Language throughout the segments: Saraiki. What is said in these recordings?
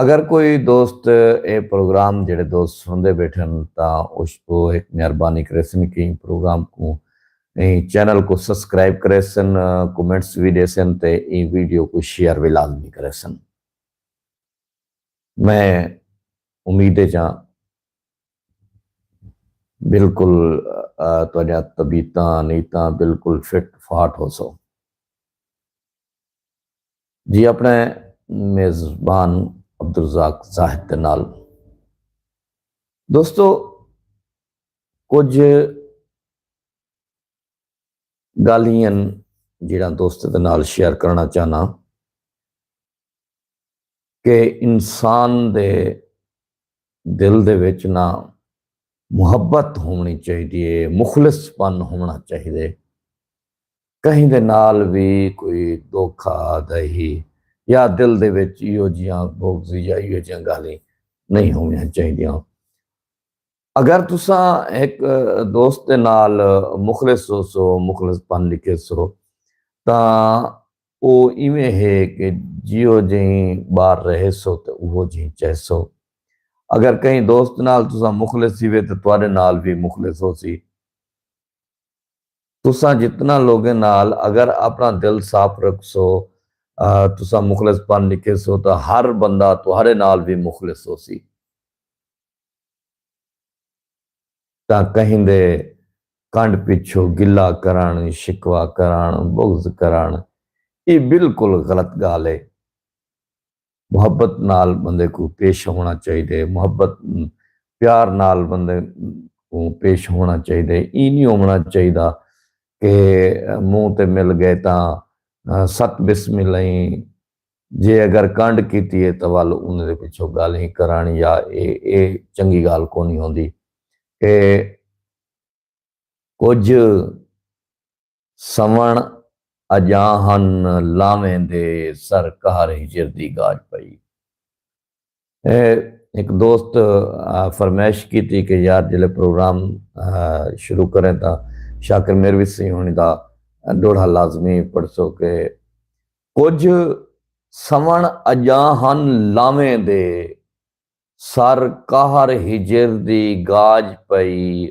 اگر کوئی دوست اے پروگرام جیڑھے دوست سنڑدے بیٹھن تاں او ہک مہربانی کریسن کہ ایں پروگرام کوں ایں چینل کوں سبسکرائب کریسن کمنٹس وی ڈیسن تے ایں ویڈیو کوں شیئر وی لازمی کریسن میں امید اچاں بالکل تہاڈیاں طبیعتاں نیتاں بالکل فٹ فاٹ ہوسو۔ جی اپنے میزبان عبدالرزاق زاہد دے نال دوستو کچھ گالین جڑا دوست دے نال شیئر کرنا چاہنا کہ انسان دے دل دے وچ نہ محبت ہونی چاہیے مخلص پن ہونا چاہیے کہیں دے نال وی کوئی دوکھا دہی یا دل دے وچ ایہو جیاں بغض یا ایہو جیاں گالھیں نہیں ہونیاں چاہیدیاں۔ اگر تساں ہک دوست دے نال مخلص ہوسو، مخلص پن لکھیسو تاں او ایویں ہے کہ جیہو جہیں بار رہیسو تے اوہو جہیں چہسو۔ اگر کہیں دوست نال تساں مخلص تھیوے تے تہاڈے نال وی مخلص ہوسی۔ تساں جتنا لوگیں نال اگر اپنا دل صاف رکھسو تساں مخلص بن نکھیسو تاں ہر بندہ تہاڈے نال وی مخلص ہوسی تاں کہیندے کنڈ پچھو گلہ کرݨ شکوہ کرݨ بغض کرݨ ایہ بالکل غلط گالھ ہے۔ محبت نال بندے کوں پیش ہووݨا چاہیدے، محبت پیار نال بندے کوں پیش ہووݨا چاہیدے، ایں نی ہووݨا چاہیدا کہ منہ تے مل ڳئے تاں ست بسم الہیں جے اگر کنڈ کیتی ہے تاں ول انہیں دے پچھوں ڳالھیں کرݨ یا اے اے چنگی ڳالھ کونی ہوندی اے کجھ سوݨ اڄاں ہن لاویں دے سر قہر ہجر دی گاج پئی اے ہک دوست فرمائش کیتی کہ یار جلے پروگرام شروع کریں تاں شاکر میروی سئیں ہنی دا ڈوہڑا لازمی پڑھسو کہ کجھ سوݨ اڄاں ہن لاویں دے سر قہر ہجر دی گاج پئی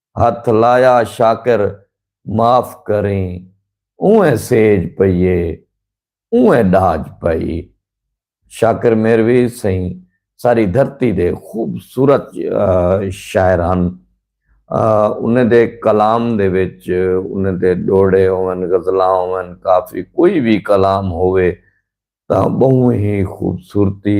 ہتھ لایا شاکر معاف کریں اونویں سیج پئی اے اونویں ڈاج پئی شاکر میروی سئیں ساری دھرتی دے خوبصورت شاعر ہن انہیں دے کلام دے وچ انہیں دے ڈوہڑے ہوون غزلاں ہوون کافی کوئی وی کلام ہووے تاں بہوں ہی خوبصورتی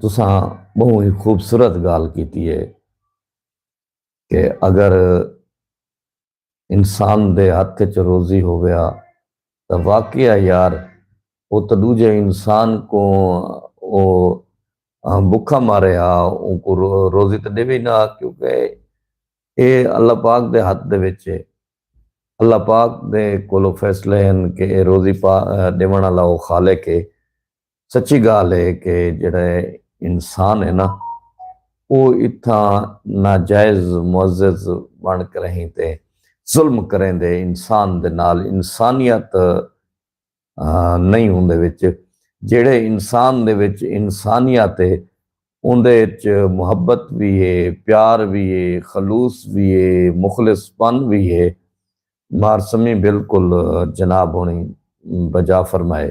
تساں بہو ہی خوبصورت گال کیتی ہے کہ اگر انسان دے ہاتھ چ روزی ہو گیا تو واقعہ یار وہ تو دوجے انسان کو وہ بکھا مارے ہا ان کو روزی تو دے بھی نہ کیونکہ اے اللہ پاک دے ہاتھ دے وچے اللہ پاک دے کولو فیصلے ہن کہ اے روزی پا ݙیوݨ آلا او خالق اے۔ سچی ڳالھ اے کہ جیڑھے انسان ہے نا او اتھاں ناجائز معزز بݨ کرہیں تے ظلم کریندے انسان دے نال انسانیت نئیں ہوندے وچ جیڑھے انسان دے وچ انسانیت ہے اوندے اچ محبت وی ہے پیار وی ہے خلوص وی ہے مخلص پن وی ہے مارسمی بالکل جناب ہوݨی بجا فرمائے۔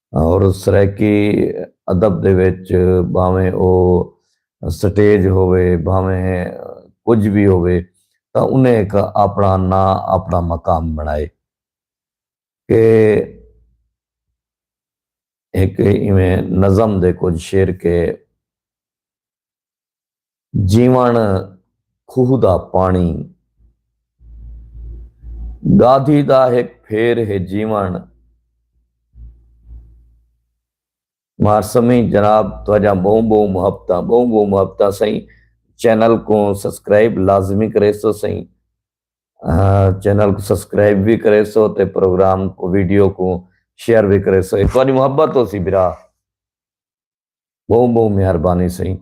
اور سرائیکی ادب دے وچ بھاویں او سٹیج ہووے بھاویں کجھ وی ہووے تاں انہیں ہک آپنڑا ناں آپنڑا مقام بنڑائے کہ ہک ایویں نظم دے کجھ شعر کے جیوݨ کھوہ دا پاݨی گادھی دا ہک پھیر ہے جیوݨ مارسمیں جناب تہاجاں بہوں بہوں محبتاں بہوں بہوں محبتاں سئیں چینل کو سبسکرائب لازمی کریسو سئیں چینل کو سبسکرائب بھی کریسو تے پروگرام کو ویڈیو کو شیئر بھی کریسو ایک بار محبت ہو سی برا بہوں بہوں مہربانی سئیں